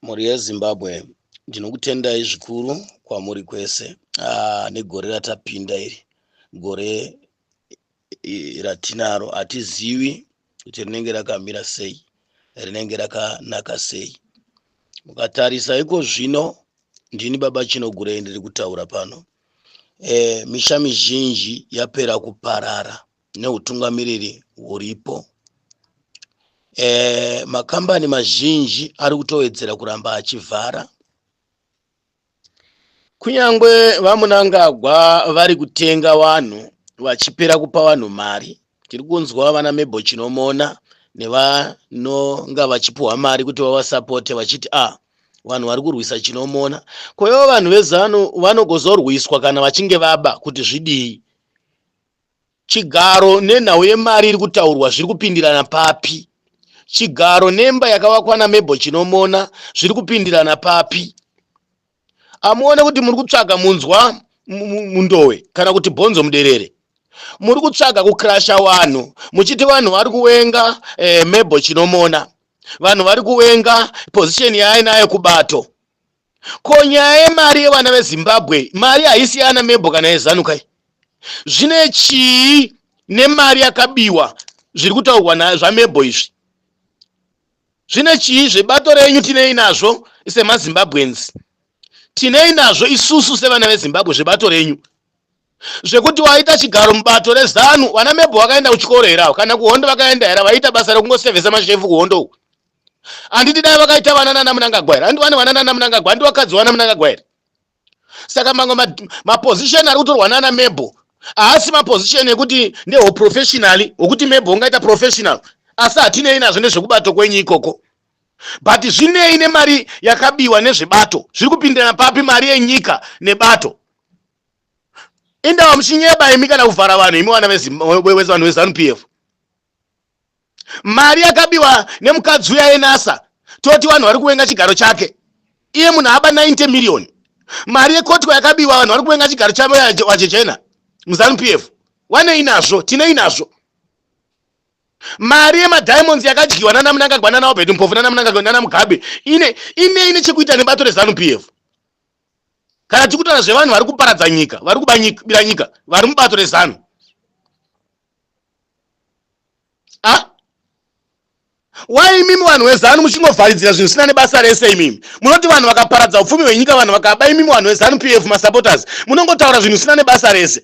mhuri yezimbabwe ndinokutendai zvikuru kwamuri kwese ah, negore ratapinda iri gore ratinaro hatizivi kuti rinenge rakamira sei rinenge rakanaka sei mukatarisa iko zvino ndini baba chinogurei ndiri kutaura pano e, misha mizhinji yapera kuparara neutungamiriri huripo e, makambani mazhinji ari kutowedzera kuramba achivhara kunyange vamunangagwa vari kutenga vanhu vachipera kupa vanhu mari tiri kunzwa vana mebo chinomona nevanonga vachipiwa mari kuti vavasapote vachiti a ah, vanhu vari kurwisa chinomona koyo vanhu vezanu vanogozorwiswa kana vachinge vaba kuti zvidii Chigaro nenhau yemari iri kutaurwa zviri kupindirana papi? Chigaro nemba yakavakwa naMabel Chinomona zviri kupindirana papi? Amuone kuti muri kutsvaga munzwa mundowe kana kuti bhonzo muderere. Muri kutsvaga kukrasha vanhu muchiti vanhu vari kuwenga eh, Mabel Chinomona. Vanhu vari kuwenga position yaainayo kubato. Ko nyaya yemari yevana veZimbabwe mari haisi yaana Mebho kana yeZanu kai? Zvine chii nemari yakabiwa zviri kutaurwa naZvaMebho izvi? Zvine chii zvebato renyu tinei nazvo semaZimbabweans? Tinei nazvo isusu sevana veZimbabwe zvebato renyu? Zvekuti waita chigaro mubato reZanu, vana Mebho vakaenda kuchikoro here avo? Kana kuhondo vakaenda here? Vaiita basa rekungosevhesa mashefu kuhondo uku. handiti dai vakaita vana nana munangagwa here handiti vane vana nana munangagwa handiti vakadzi vana munangagwa here saka mamwe maposition ari kutorwa nana mable haasi maposition ekuti ndehwo professionally hwekuti mable ungaita professional asi hatinei nazvo nezvekubato kwenyu ikoko but zvinei nemari yakabiwa nezvebato zviri kupindirana papi mari yenyika nebato indawa muchinyeba imi kana kuvhara vanhu imi vana vevanhu vezanup f Mari yakabiwa nemukadzi uya yenasa toti vanhu vari kuvenga chigaro chake iye munhu aba 90 million mari yekotwa yakabiwa vanhu vari kuvenga chigaro chavo wachechena muzanupf wanei nazvo tinei nazvo mari yemadiamonds yakadyiwa nana munangagwa nana obert mpofu nana munangagwa nana mugabe ine ine ine chekuita nebato rezanupief kana tiri kutaura zvevanhu vari kuparadza nyika vari kubira nyika vari mubato rezanu ah? why imimi vanhu vezanu muchingovharidzira zvinhu zvisina nebasa rese imimi munoti vanhu vakaparadza upfumi hwenyika vanhu vakaba imimi vanhu vezanu pf masupporters munongotaura zvinhu zvisina nebasa rese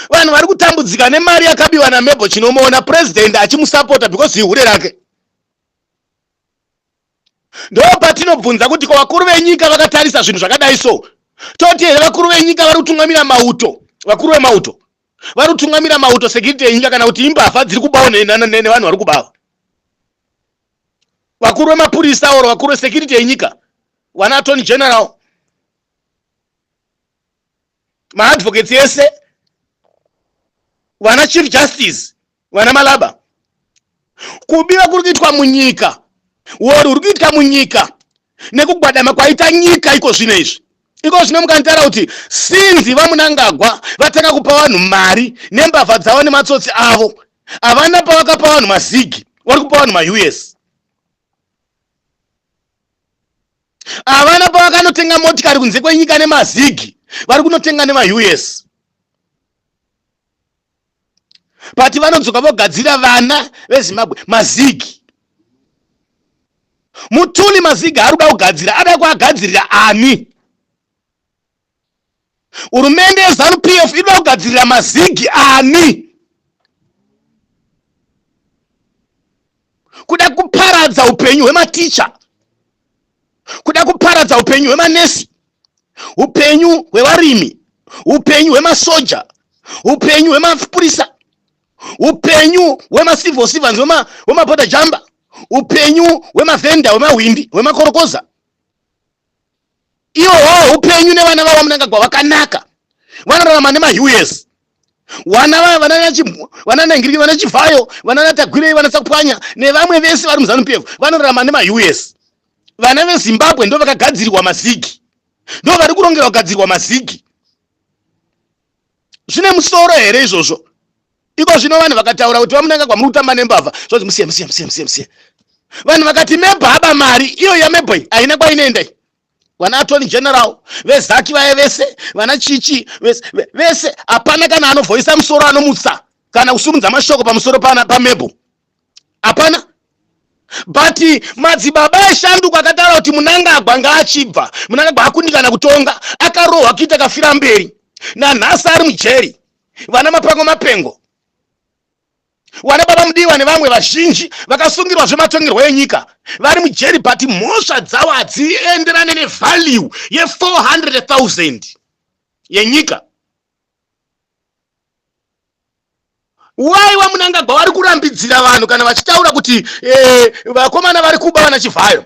vanhu vari kutambudzika nemari yakabiwa namebo chinomuona president achimusapota because ihure rake ndopatinobvunza kuti ko vakuru venyika vakatarisa zvinhu zvakadai so toti here vakuru venyika vari kutungamira mauto vakuru vemauto vari kutungamira mauto security yenyika kana kuti imbavha dziri kubawo nevanhu vari kubawa vakuru vemapurisa or vakuru vesecurity yenyika vana attorney general maadvocates ese vana chief justice Vana Malaba, kubiwa kuri kuitwa munyika, wori huri kuitwa munyika nekugwadama kwaita nyika iko zvino izvi iko zvino mukanditaura kuti sinzi vamunangagwa vatanga kupa vanhu mari nembavha dzavo nematsotsi avo havana pavakapa vanhu mazigi vari kupa vanhu maus havana pavakanotenga motikari kunze kwenyika nemazigi vari kunotenga nemaus but vanodzoka vogadzira vana vezimbabwe mazigi mutuni mazigi ari kuda kugadzira ada kuagadzirira ani hurumende yezanup f inoda kugadzirira mazigi ani kuda kuparadza upenyu hwematicha kuda kuparadza upenyu hwemanesi upenyu hwevarimi upenyu hwemasoja upenyu hwemapurisa upenyu hwemacivil servants hwemabhoda jamba upenyu hwemavhenda hwemahwindi hwemakorokoza iwo hoo upenyu nevana vavo munangagwa wakanaka vanorarama nemahues wana vaya vananangiriki vana chivhayo vananatagwirei vanasakupwanya nevamwe vese vari muzanu pf vanorarama nemaus vana vezimbabwe ndo vakagadzirirwa mazigi ndo vari kurongerwa kugadzirwa mazigi zvine musoro here izvozvo iko zvino vanhu vakataura kuti vamunanga kwamuri kutamba nembavha zvanzi musiye musiye musiye musiye musiye vanhu vakati mebhaba mari iyo yamebhoi haina kwainoendai vana attorney general vezaki vaye vese vana chichi vese vese hapana kana anovhoisa musoro anomutsa kana kusurunza mashoko pamusoro pana pamebo hapana but madzibaba aishanduka akataura kuti munangagwa ngaachibva munangagwa akundikana kutonga akarohwa kuita kafira mberi nanhasi ari mujeri vana mapango mapengo Wana baba Mudiwa nevamwe vazhinji vakasungirwa zvematongerwo enyika vari mujeri but mhosva dzavo hadzienderane nevalue ye400,000 yenyika. Why wamunangagwa wari kurambidzira vanhu kana vachitaura kuti eh, vakomana vari kuba vana Chivhayo?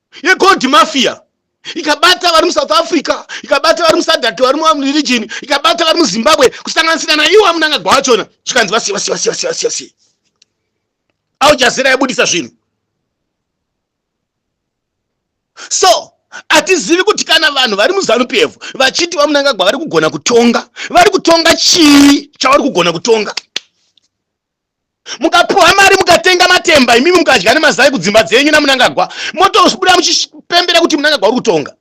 yegold mafia ikabata vari musouth africa ikabata vari musadak vari murigin ikabata vari muzimbabwe kusanganisira naiwo amunangagwa wachona zvikanzi vasiya vasiya vasiya vasiya vasiya vasiya au jazira yabudisa zvinhu so hatizivi kuti kana vanhu vari muzanup f vachiti vamunangagwa vari kugona kutonga vari kutonga chii chavari kugona kutonga mukapuhwa mari mukatenga matemba imimi mukadya nemazai kudzimba dzenyu namunangagwa motobuda muchipembera kuti munangagwa uri kutonga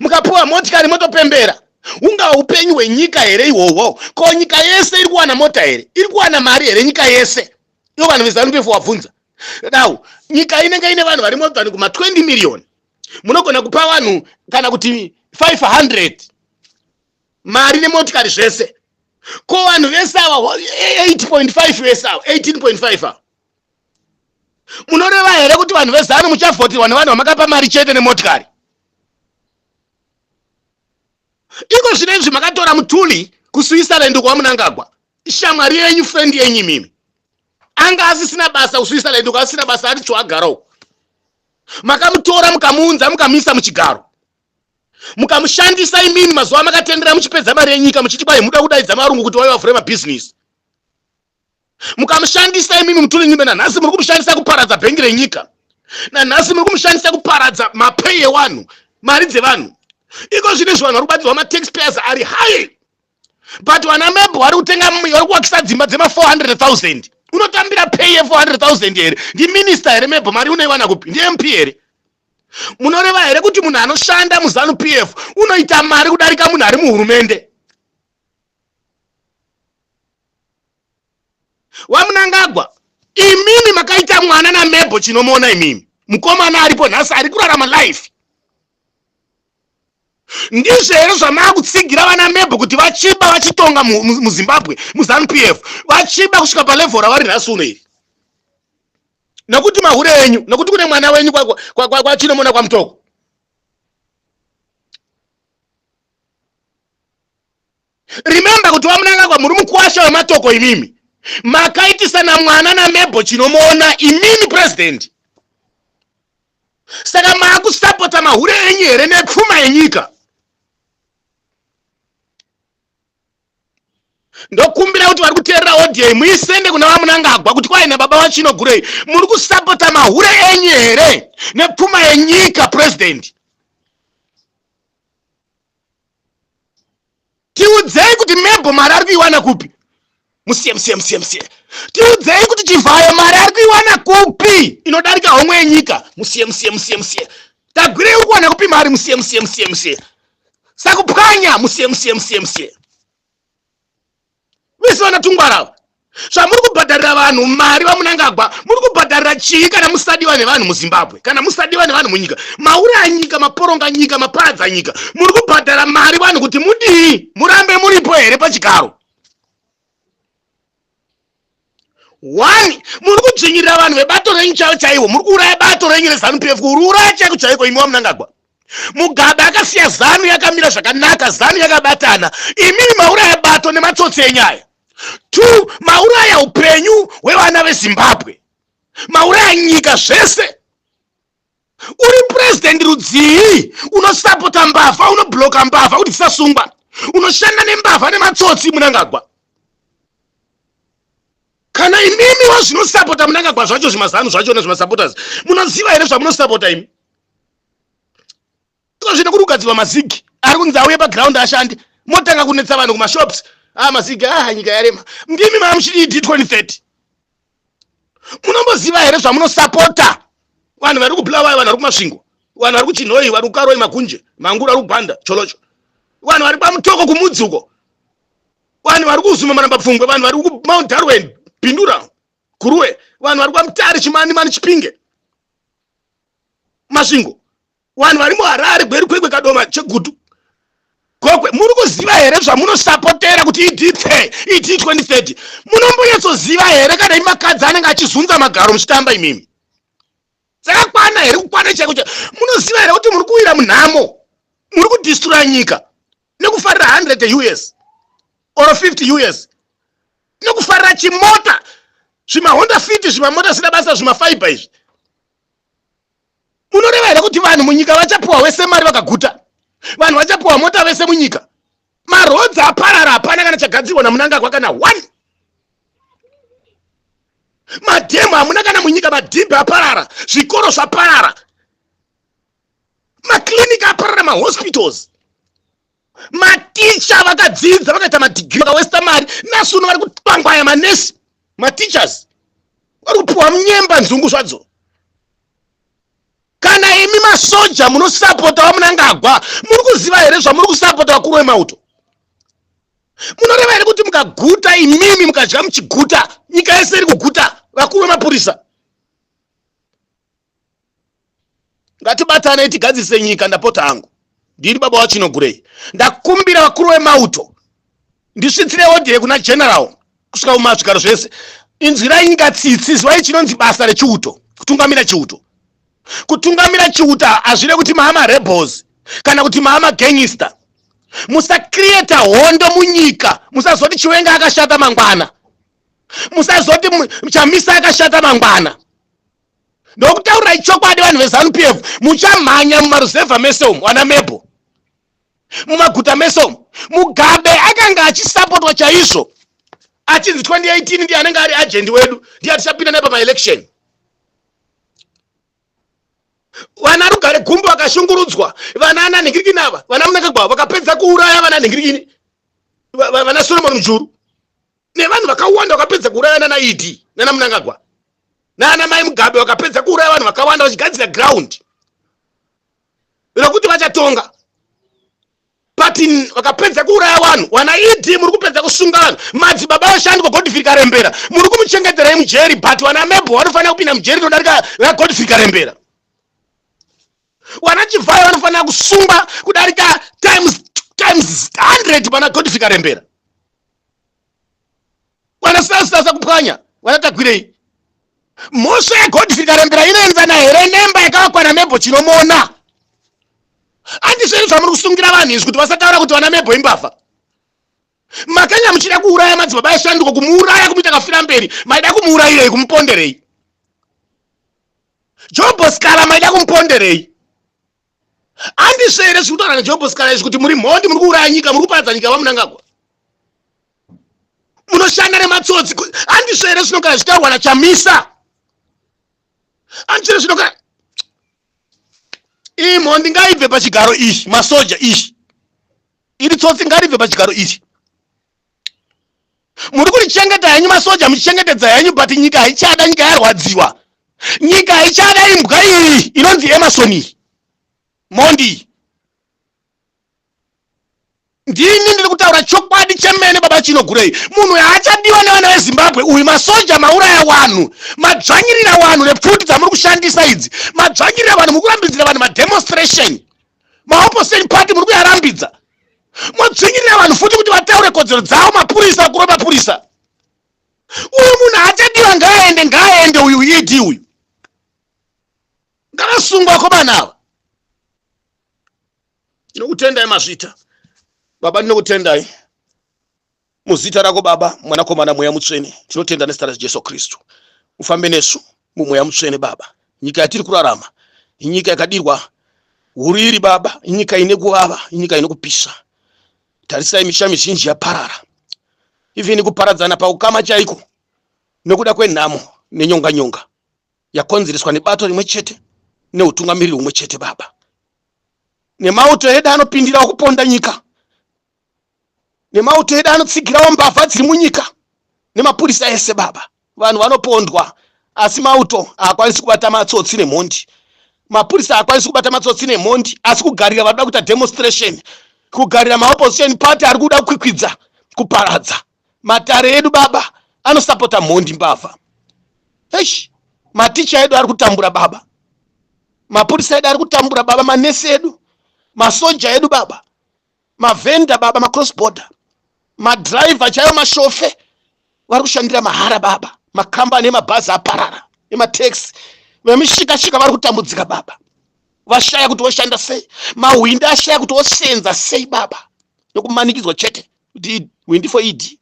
mukapuhwa motikari motopembera unga upenyu hwenyika here ihwohwo ko nyika yese iri kuwana mota here iri kuwana mari here nyika yese ivo vanhu vezanu ndefu wabvunza now nyika inenge ine vanhu vari mozani kuma 20 million munogona kupa vanhu kana kuti 500 mari nemotikari zvese ko vanhu vese ava 8.5 vese ava 18.5 ava munoreva here kuti vanhu vezanu muchavhotirwa nevanhu vamakapa mari chete nemotikari iko zvine izvi makatora mutuli kuswitzerland kwa munangagwa shamwari yenyu friend yenyu imimi anga asisina basa kuswitzerland uko asisina basa ari tswaagara uko makamutora mukamuunza mukamisa muchigaro mukamushandisa imini mazuva makatendera muchipedza mari yenyika muchiti kwai muda kudaidza marungu kuti wave vavhure mabhizinesi mukamushandisa imimi muturi nyimbe nanhasi muri kumushandisa kuparadza bhengi renyika nanhasi muri kumushandisa kuparadza mapei ewanhu mari dzevanhu iko zvine zvi vanhu vari kubatsirwa matax payers ari high but vana mebo vari kutenga vari kuvakisa dzimba dzema 400 000 unotambira pay ye 400 000 here ndiminista here mebo mari unoiwana kupi ndimp here munoreva here kuti munhu anoshanda muzanu p f unoita mari kudarika munhu ari muhurumende wamunangagwa imimi makaita mwana namebho chinomuona imimi mukomana aripo nhasi ari kurarama life ndizvo here zvamaakutsigira vana mebho kuti vachiba vachitonga muzimbabwe muzanu p f vachiba kusvika palevhel ravari nhasi uno iri nekuti mahure enyu nekuti kune mwana wenyu kwachinomona kwa, kwa, kwa kwamutoko remember kuti wamunangagwa muri mukwasha wematoko imimi makaitisa na mwana na mebo chinomona imimi president saka maakusapota mahure enyu here nepfuma yenyika ndokumbira kuti vari kuteerera audio iyi muisende kuna vamunangagwa kuti kwaina baba vachino gurei muri kusapota mahure enyu here nepfuma yenyika president tiudzei kuti mebho mari ari kuiwana kupi musiye musiye musiye musiye tiudzei kuti chivhayo mari ari kuiwana kupi inodarika homwe yenyika musiye musiye musiye musiye tagwirei ukuwana kupi mari musiye musiye musiye musiye sakupwanya musiye musiye musiye musiye vese vana tungwara zvamuri kubhadharira vanhu mari vamunangagwa muri kubhadharira chii kana musadiwa nevanhu muzimbabwe kana musadiwa nevanhu munyika maura nyika maporonga nyika maparadza nyika muri kubhadhara mari vanhu kuti mudii murambe muripo here pachigaro one muri kudzvinyirira vanhu vebato renyu chaivo chaivo muri kuuraya bato renyu rezanupf kuuriuraya chaiko chaiko imi wamunangagwa mugabe akasiya zanu yakamira zvakanaka zanu yakabatana imini mauraya bato nematsotsi enyaya two mauraya upenyu hwevana vezimbabwe mauraya nyika zvese uri president rudzii unosapota mbavha unobloka mbavha kuti dzisasungwa unoshanda nembavha nematsotsi munangagwa kana imimi wazvinosapota munangagwa zvacho zvimazanu zvacho nezvemasupporters munoziva here zvamunosapota imi Zvinoita kuti kugadzirwa mazigi ari kunzi auye paground ashande motanga kunetsa vanhu kumashops ah mazigi ah nyika yarema ndimi mamuchidii 2030 munomboziva here zvamunosapota vanhu vari kubulawayo vanhu vari kumasvingo vanhu vari kuchinhoyi vari kukaroi makunje manguru ari kugwanda cholocho vanhu vari kwamutoko kumudzi uko vanhu vari kuzuma maramba pfungwe vanhu vari kumount darwen bindura kuruwe vanhu vari kwamutari chimani mani chipinge masvingo Wanhu vari muharare gweru kwekwe kadoma chegutu gokwe muri kuziva here zvamunosapotera kuti idipfe idii 2030 munombonyatsoziva here kana imakadzi anenge achizunza magaro muchitamba imimi dzakakwana here kukwana chaiko cha munoziva here kuti muri kuwira munhamo muri kudistura nyika nekufarira 100 us or 50 us nekufarira chimota zvimahonda fiti zvimamota sina basa zvimafiber izvi Munoreva here kuti vanhu munyika vachapiwa wese mari vakaguta? Vanhu vachapiwa mota vese munyika? Maroads aparara hapana kana chagadzirwa namunangagwa kana one. Madhemu hamuna kana munyika madhimbi aparara, zvikoro zvaparara. Maclinic aparara mahospitals. maticha vakadzidza vakaita madigiri vakawesta mari nasi uno vari kutwangwaya manesi mateachers vari kupiwa munyemba nzungu zvadzo kana imi masoja munosapota wamunangagwa muri kuziva here zvamuri kusapota vakuru vemauto munoreva here kuti mukaguta imimi mukadya muchiguta nyika yese iri kuguta vakuru vemapurisa ngatibatanei tigadzirise nyika ndapota hangu ndiri baba wachinogurei ndakumbira vakuru vemauto ndisvitsire odhire kuna general kusvika kumazvigaro zvese inzwirai nyika tsitsi zivai chinonzi basa rechiuto kutungamira chiuto kutungamira chiuta hazvire kuti maama rebels kana kuti maama gangista musakrieta hondo munyika musazoti chiwenga akashata mangwana musazoti chamisa akashata mangwana ndokutaurirai chokwadi vanhu vezanup f muchamhanya mumaruzevha mese umu ana mebho mumaguta mese umu mugabe akanga achisapotwa chaizvo achinzi 2018 ndiye anenge ari agendi wedu ndiye atichapinda naye pamaelection vana rugare gumbo vakashungurudzwa vana ana nhingirikini ava vana munangagwa vakapedza kuuraya vana nhingirikini vana solomon mujuru nevanhu vakawanda vakapedza kuuraya nana ed nana munangagwa nana mai mugabe vakapedza kuuraya vanhu vakawanda vachigadzira ground rekuti vachatonga but vakapedza kuuraya vanhu wana ed muri kupedza kusunga vanhu madzibaba vashandwa godfrey karembera muri kumuchengeterai mujeri but wana mebo vanofanira kupinda mujeri rinodarika ragodfrey karembera wana chivhayo vanofanira kusungwa kudarika times times 100 pana godfi karembera wana sasasa kupwanya wana tagwirei mhosva yagodfi karembera inoenzana here nemba yakavakwana mebho chinomona andizvei zvamuri kusungira vanhu izvi kuti vasataura kuti vana mebho imbavha makanga muchida kuuraya madzibaba eshanduko kumuuraya kumuita kafira mberi maida kumuurayirei kumuponderei jobho skala maida kumuponderei andisve here zviri kutaura nejobho skala izvi kuti muri mhondi muri kuuraya nyika muri kuparadza nyika vamunangagwa munoshanda nematsotsi andisve here zvinogara zvitaurwa nachamisa andisvere zvinogara imhondi ngaibve pachigaro ichi masoja ichi iri tsotsi ngaribve pachigaro ichi muri kurichengeta henyu masoja muchichengetedza henyu but nyika haichada nyika yarwadziwa nyika haichada imbwa iyi inonzi emerson iyi mondi ndini ndiri kutaura chokwadi chemene baba chino gurei munhu haachadiwa nevana vezimbabwe uyu masoja mauraya wanhu madzvanyirira wanhu nepfuti dzamuri kushandisa idzi madzvanyirira vanhu mukurambidzira vanhu mademonstration maopposition party muri kuyarambidza modzvinyirira vanhu futi kuti vataure kodzero dzavo mapurisa kuro mapurisa uyu munhu haachadiwa ngaaende ngaaende uyu ed uyu ngavasungwa komana ava ndinokutendai mazvita baba ndinokutendai Muzita rako Baba, Mwanakomana, Mweya Mutsvene, tinotenda nezita raJesu Kristu. Ufambe nesu muMweya Mutsvene Baba. Nyika yatiri kurarama inyika yakadirwa huriri Baba, inyika ine kuvava, inyika ine kupisa. Tarisai misha mizhinji yaparara, even kuparadzana paukama chaiko nokuda kwenhamo nenyonga nyonga yakonzereswa nebato rimwe chete neutungamiriri humwe chete Baba. Nemauto edu anopindirawo kuponda nyika nemauto edu anotsigirawo mbavha dziri munyika nemapurisa ese baba vanhu vanopondwa asi mauto haakwanisi kubata matsotsi nemhondi mapurisa haakwanisi kubata matsotsi nemhondi asi kugarira vanoda kuita demonstration kugarira maopposition party ari kuda kukwikwidza kuparadza matare edu baba anosapota mhondi mbavha eish maticha edu ari kutambura baba mapurisa edu ari kutambura baba manesi edu masoja edu baba mavhenda baba macross border madriver chaivo mashofe vari kushandira mahara baba makambani emabhazi aparara emataxi vemishikashika vari kutambudzika baba vashaya kuti voshanda sei mahwindi ashaya kuti vosenza sei baba nokumanikidzwa chete kuti hwindi fo ed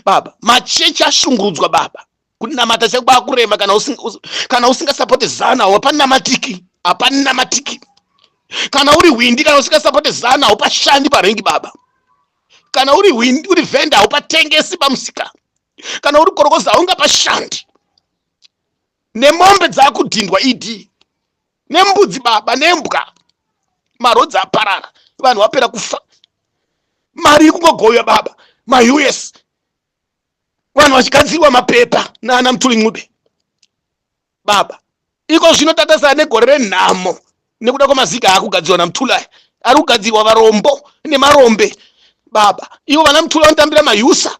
baba machechi ashungurudzwa baba kunamata chaiko kwakurema kana using, us, kana usingasapote zana hapanamatiki hapanamatiki kana uri hwindi kana usingasapote zana haupashandi parengi baba kana uri hwindi uri vhenda haupatengesi pamusika kana uri korokoza haungapashandi nemombe dzakudhindwa ed nembudzi baba nembwa marodzi aparara vanhu vapera kufa mari ikungogoywa baba maus vanhu vachigadzirwa mapepa naana mutulin'ube baba iko zvino tatasara negore renhamo nekuda kwemazika aakugadzirwa namutuli aya ari kugadzirwa varombo nemarombe baba ivo vana mutuli vanotambira mayusa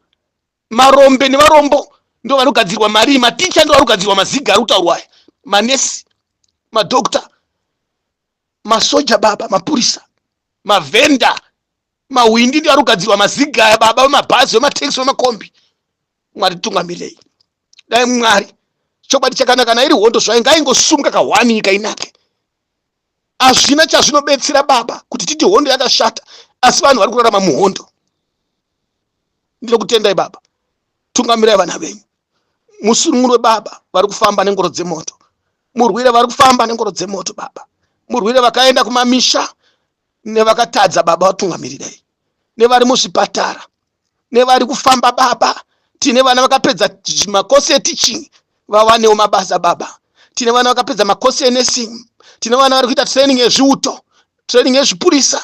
marombe nevarombo ndo vari kugadzirwa mari maticha ndo vari kugadzirwa maziga ari kutaurwa aya manesi madokta masoja baba mapurisa mavhenda mahwindi ndiyo anogadzirwa maziga aya baba vemabhazi vematekisi vemakombi mwari tungamireyi dai mwari chokwadi chakanaka nairi hondo zvayo ngaingosumuka kahwani nyika inake hazvina chazvinobetsera baba kuti titi hondo yakashata asi vanhu vari kurarama muhondo ndiri kutendai baba tungamirai vana venyu musunungurwe baba vari kufamba nengoro dzemoto murwire vari kufamba nengoro dzemoto baba murwire vakaenda kumamisha nevakatadza baba vatungamiri dai nevari muzvipatara nevari kufamba baba tine vana vakapedza makosi eteaching vawanewo mabasa baba tine vana vakapedza makosi enursing tine vana vari kuita training yezviuto training yezvipurisa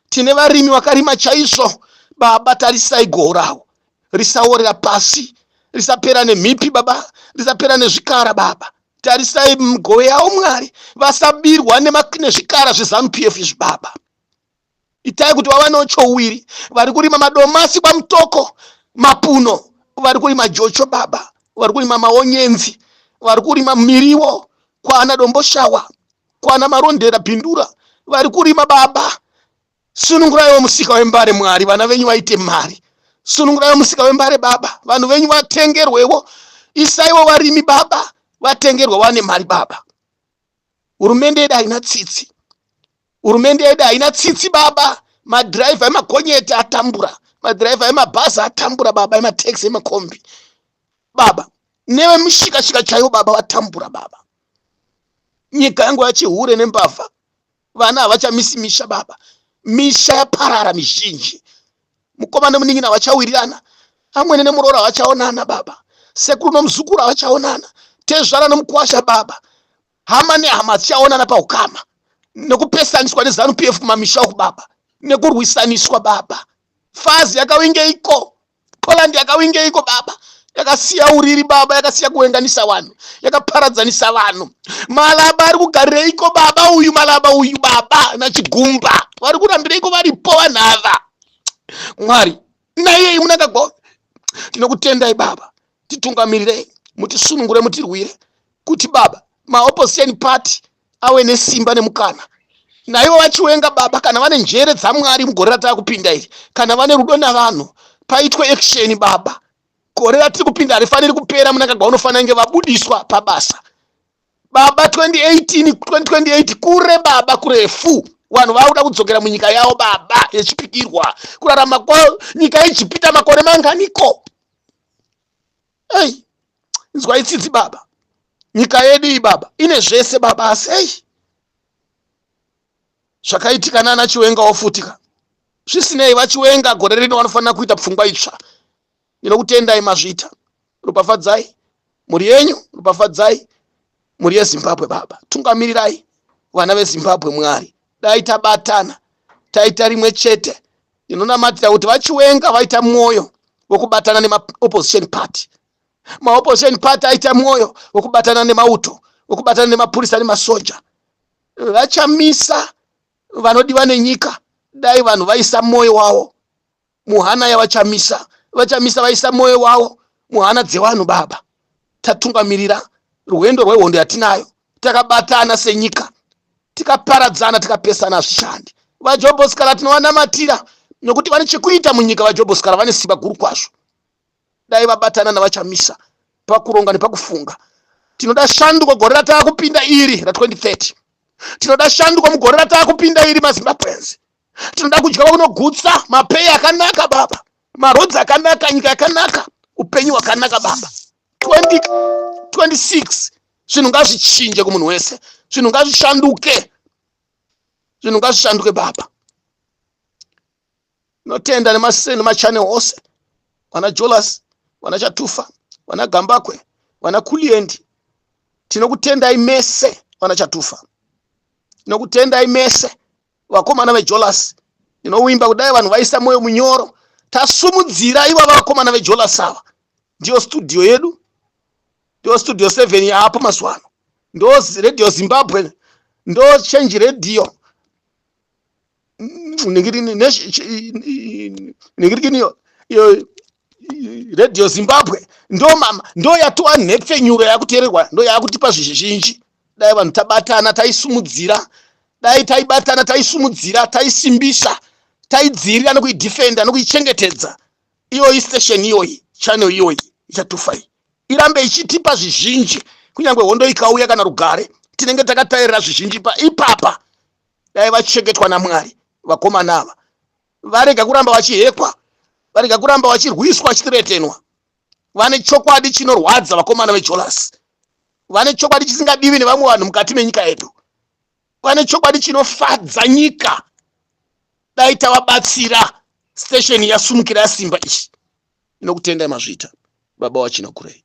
tine varimi vakarima chaizvo baba tarisai goho ravo risaorera pasi risapera nemhipi baba risapera nezvikara baba Tarisai migove yavo Mwari, vasabirwa nezvikara zveZanu PF izvi baba. Itai kuti vava nochouwiri, vari kurima madomasi kwaMutoko, mapuno, vari kurima jocho baba, vari kurima maonyenzi, vari kurima miriwo kwaana Domboshawa, kwaana Marondera Bindura, vari kurima baba Sununguraiwo musika wembare Mwari, vana venyu vaite mari. Sununguraiwo musika wembare Baba, vanhu venyu vatengerwewo. Isaiwo varimi Baba, vatengerwe wane mari Baba. Hurumende yedu haina tsitsi. Hurumende yedu haina tsitsi Baba. Madhiraivha emagonyeti atambura, madhiraivha emabhazi atambura Baba, ematekisi emakombi Baba, newe mushikashika chaiwo Baba, watambura Baba. Nyika yangu yachihure nembavha vana havachamisi misha baba misha yaparara mizhinji mukoma nemuningina havachawirirana amwene nemuroora havachaonana baba sekuru nomuzukuru havachaonana tezvara nomukwasha baba hama nehama hadzichaonana paukama nekupesaniswa nezanu pf kumamisha uku baba nekurwisaniswa baba fazi yakawengeiko Poland yakawingeiko baba yakasiya uriri baba yakasiya kuenganisa vanhu yakaparadzanisa vanhu malaba ari kugareiko baba uyu malaba uyu baba nachigumba vari kurambireiko varipo vanhu ava mwari naiyeyi munangagove tinokutendai baba titungamirirei mutisunungure mutirwire kuti baba maopposition party awe nesimba nemukana naivo vachiwenga baba kana vane njere dzamwari mugore ratava kupinda iri kana vane rudo navanhu paitwe action baba gore ratiri kupinda harifaniri kupera munangagwa unofanira kunge vabudiswa pabasa baba 2018 2028 kure baba kurefu vanhu vakuda kudzokera munyika yavo baba yechipikirwa kurarama kwavo nyika yejipita makore manganiko ei inzwa itsitsi baba nyika yedu iyi baba ine zvese baba asi ei zvakaitika nana chiwenga ofutika zvisinei vachiwenga gore rino vanofanira kuita pfungwa itsva ndinokutendai mazvita ropafadzai mhuri yenyu ropafadzai mhuri yezimbabwe baba tungamirirai vana vezimbabwe mwari dai tabatana taita rimwe chete ndinonamatira kuti vachiwenga vaita mwoyo wekubatana nemaopposition party maopposition party aita mwoyo wekubatana nemauto wekubatana nemapurisa nemasoja vachamisa vanodiwa nenyika dai vanhu vaisa mwoyo wavo muhana yavachamisa vachamisa vaisa mwoyo wavo muhana dzevanhu baba tatungamirira rwendo rwehondo yatinayo takabatana senyika tikaparadzana tikapesana hazvishandi vajoboskara tinowanamatira nokuti vane chekuita munyika vajoboskara vane simba guru kwazvo dai vabatana navachamisa pakuronga nepakufunga tinoda shanduko gore rataa kupinda iri ra 2030 tinoda shanduko mugore rataa kupinda iri mazimbabwenzi tinoda kudya kunogutsa mapei akanaka baba marodzi akanaka nyika yakanaka upenyu hwakanaka baba 2026 zvinhu ngazvichinje kumunhu wese zvinhu ngazvishanduke zvinhu ngazvishanduke baba notenda nemachane ose vana jolas vana chatufa vana gambakwe vana kuliendi tinokutendai mese vana chatufa tinokutendai mese vakomana vejolasi ndinoimba kudai vanhu vaisa moyo munyoro tasumudzira ivava vakomana vejolasi ava ndiyo studio yedu ndiyo studio seven yaapo mazuva ano ndo radio zimbabwe ndo change radio nengirikiniyo radio zimbabwe ndo mama ndo yatova nhepfenyuro yakuteererwa ndo yakutipa zvizhinji dai vanhu tabatana taisumudzira dai taibatana taisumudzira taisimbisa taidzirira nokuidefenda nokuichengetedza iyoyi station iyoyi channel iyoyi ichatufai irambe ichitipa zvizhinji kunyange hondo ikauya kana rugare tinenge takatairira zvizhinji pa ipapa dai vachengetwa namwari vakomana ava varega kuramba vachihekwa varega kuramba vachirwiswa vachitiretenwa vane chokwadi chinorwadza vakomana vejolasi vane chokwadi chisingadivi nevamwe vanhu mukati menyika yedu vane chokwadi chinofadza nyika dai tavabatsira stesheni yasumukira yasimba ichi inokutendai mazvita baba wachinokurei